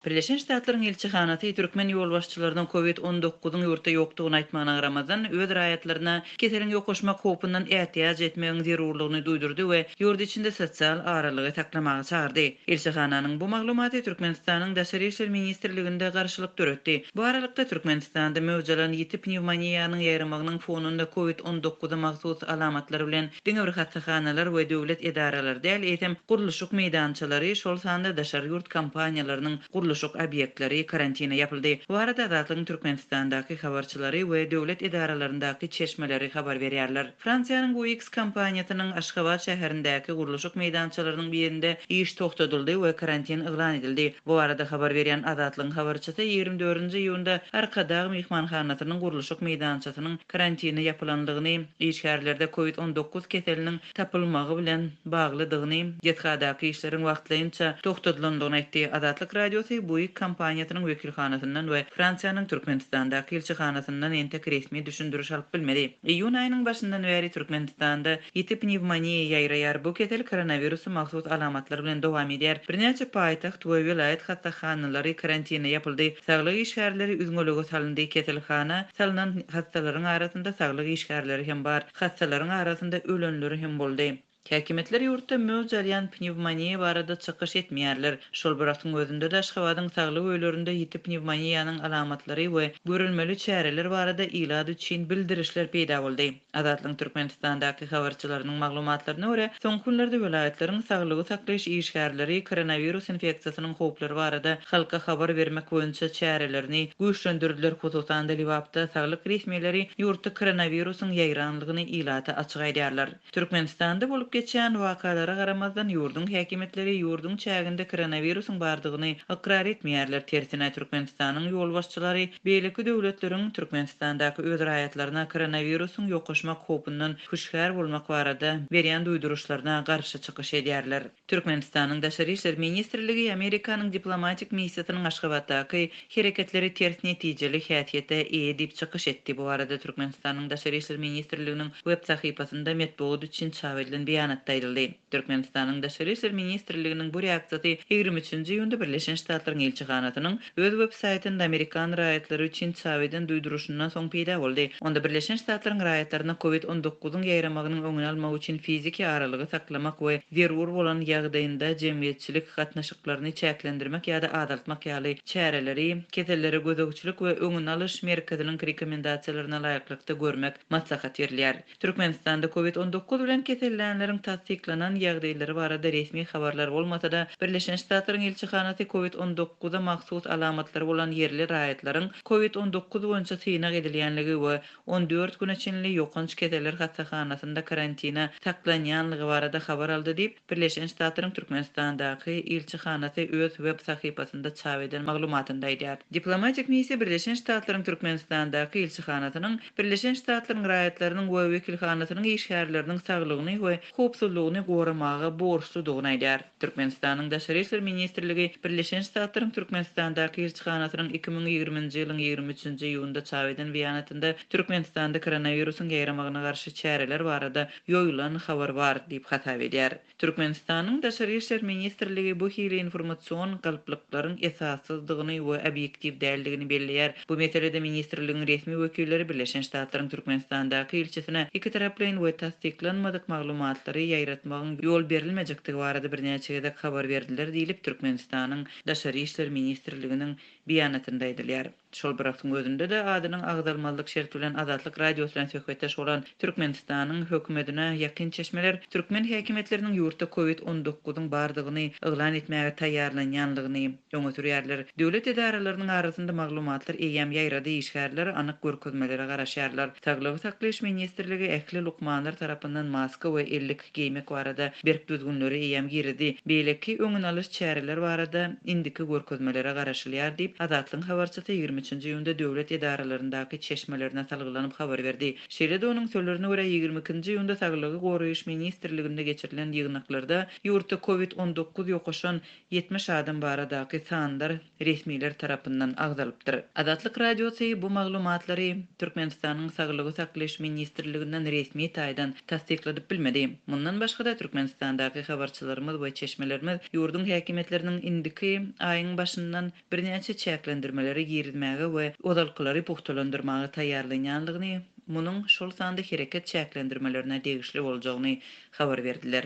Birleşen Ştatlaryň ilçihanasy türkmen ýolbaşçylarynyň Covid on dokuzyň ýurtda ýokdugyny aýtmagyna garamazdan, öz raýatlaryna keseliň ýokaşmak howpundan ätiýaç etmegiň zerurlygyny duýdurdy we ýurt içinde sosial aralygy saklamaga çagyrdy. Ilçihananyň bu maglumaty Türkmenistanyň Daşary işler ministrliginde garşylyk döretdi. Bu aralykda, Türkmenistanda möwj alan ýiti pnewmoniýanyň ýaýramagynyň fonunda Covid on dokuza mahsus alamatlary bilen diňe bir hassahanalar we döwlet edaralary däl, eýsem, gurluşyk meýdançalary, şol sanda daşary ýurt kompaniýalarynyň gurluşyk obýektleri karantine ýapyldy. Bu barada Azatlygyň Türkmenistandaky habarçylary we döwlet edaralaryndaky çeşmeleri habar berýärler. Fransiýanyň Bouygues kompaniýasynyň Aşgabat şäherindäki gurluşyk meýdançalarynyň birinde iş togtadyldy we karantin yglan edildi. Bu barada habar berýän Azatlygyň habarçysy ýigrimi dördünji iýunda Arkadag myhmanhanasynyň gurluşyk meýdançasynyň karantine ýapylandygyny, işgärlerde covid on dokuz keseliniň tapylmagy bilen baglydygyny, desgadaky işleriň wagtlaýynça togtadylandygyny aýtdy. Azatlyk Radiosy Buig kompaniýasynyň wekilhanasyndan we Fransiýanyň Türkmenistandaky ilçihanasyndan entek resmi düşündiriş alyp bilmedi. Iýun aýynyň başyndan bäri Türkmenistanda Ýiti pnewmoniýa ýaýraýar. Bu kesel koronawirusa mahsus alamatlar bilen dowam edýär. Birnäçe paýtagt we welaýat hassahanalary karantine ýapyldy. Saglyk işgärleri üzňelige salyndy. Keselhana salnan hassalaryň arasynda saglyk işgärleri hem bar. Hassalaryň arasynda ölenler hem boldy. Häkimiýetler ýurtda möwç alýan pnewmoniýa barada çykyş etmeýärler. Şol bir wagtyň özünde-de Aşgabadyň saglyk öýlerinde ýiti pnewmoniýanyň alamatlary we görülmeli çäreler barada ilat üçin bildirişler peýda boldy. Azatlygyň Türkmenistandaky habarçylarynyň maglumatlaryna görä, soňky günlerde welaýatlaryň saglygy saklaýyş işgärleri koronawirus infeksiýasynyň howplary barada halka habar bermek boýunça çärelerini güýçlendirdiler, hususan-da, Lebapda saglyk resmileri ýurtda koronawirusyň ýaýranlygyny ilata açyk aýdýarlar. Türkmenistanda bolup geçýän wakalara garamazdan, ýurduň häkimiýetleri ýurduň çäginde koronawirusyň bardygyny ykrar etmeýärler, tersine, Türkmenistanyň ýolbaşçylary, Beýleki döwletleriň Türkmenistandaky öz raýatlaryna koronawirusyň ýokaşmak howpundan hüşgär bolmak barada berýän duýduryşlaryna garşy çykyş edýärler. Türkmenistanyň Daşary işler ministrligi Amerikanyň diplomatik missiýasynyň Aşgabatdaky hereketleri ters netijeli häsiýete eýe diýip çykyş etdi. Bu barada Türkmenistanyň Daşary işler ministrliginiň web sahypasynda metbugat üçin çap edilen beýanatda aýdyldy. Türkmenistanyň Daşary işler ministrliginiň bu reaksiýasy ýigrimi üçünji iýunda Birleşen Ştatlaryň ilçihanasynyň öz websaýtynda amerikan raýatlary üçin çap eden duýduryşyndan soň peýda boldy. Onda Birleşen Ştatlaryň raýatlaryna Covid on dokuzyň ýaýramagynyň öňüni almak üçin fiziki aralygy saklamak we zerur bolan ýagdaýynda jemgyýetçilik gatnaşyklaryny çäklendirmek ýa-da azaltmak ýaly çäreleri Kesellere gözegçilik we öňüni alyş merkeziniň rekomendasiýalaryna laýyklykda görmek maslahat berilýär. Türkmenistanda Covid on dokuz bilen kesellänleriň tassyklanan ýagdaýlary barada resmi habarlar bolmasa-da, Birleşen Ştatlaryň ilçihanasy Covid on dokuz a mahsus alamatlary bolan ýerli raýatlaryň Covid on dokuz boýunça synag edilýänligi we on dört güne çenli ýokanç keseller hassahanasynda karantina saklanýanlygy barada habar aldy diýip, Birleşen Ştatlaryň Türkmenistandaky ilçihanasy öz web sahypasynda çap eden maglumatynda aýdýar. Diplomatik missiýa Birleşen Ştatlaryň Türkmenistandaky ilçihanasynyň Birleşen Ştatlaryň raýatlarynyň we wekilhanasynyň işgärleriniň saglygyny we howpsuzlygyny goramaga borçludygyny aýdýar. Türkmenistanyň Daşary işler ministrligi Birleşen Ştatlaryň Türkmenistandaky ilçihanasynyň iki müň ýigriminji ýylyň ýigrimi üçünji iýunda çap eden beýanatynda Türkmenistanda koronawirusyň ýaýramagyna garşy çäreler barada ýoýulan habar bar diýip hasap edýär. Türkmenistanyň Daşary işler ministrligi bu hili informasion galplyklaryň esassyzdygyny we obýektiw däldigini belleýär. Bu meselede ministrligiň resmi wekilleri Birleşen Ştatlaryň Türkmenistandaky ilçisine ikitaraplaýyn we tassyklanmadyk maglumatlary ýaýratmagyň ýol berilmejekdigi barada birnäçe gezek habar berdiler diýlip Türkmenistanyň Daşary işler ministrliginiň beýanatynda aýdylýar. Şol bir wagtyň özünde-de adynyň agzalmazlyk şerti bilen Azatlyk Radiosy bilen söhbetdeş bolan Türkmenistanyň hökümetine ýakyn çeşmeler türkmen häkimiýetleriniň ýurtda Covid on dokuzyň bardygyny yglan etmäge taýýarlanýanlygyny öňe sürýärler. Döwlet edaralarynyň arasynda maglumatlar eýýäm ýaýrady, işgärler anyk görkezmelere garaşýarlar. Saglygy saklaýyş ministrligi ähli lukmanlar tarapyndan maska we elli. geýmek barada berk düzgünleri eýýäm giridi, beýleki öňüni alyş çäreler barada indiki görkezmelere garaşylýar diýip, Azatlygyň habarçysy ýigrimi üçünji iýunda döwlet edaralaryndaky çeşmelerine salgylanyp habar berdi. Şeýle-de onuň sözlerine görä, ýigrimi ikinji iýunda Saglygy goraýyş ministrliginde geçirilen ýygnaklarda ýurtda covid on dokuz ýokaşan ýetmiş adam baradaky sanlar, resmiler tarapyndan agzalypdyr. Azatlyk Radiosy bu maglumatlary Türkmenistanyň Saglygy saklaýyş ministrliginden resmi taýdan tassykladyp bilmedi. Mundan başga-da, Türkmenistandaky habarçylarymyz we çeşmelerimiz ýurduň häkimiýetleriniň indiki aýyň başyndan birnäçe çäklendirmeleri girizmäge we ozalkylary pugtalandyrmaga taýýarlanýanlygyny, munuň, şol sanda hereket çäklendirmelerine degişli boljagyny habar berdiler.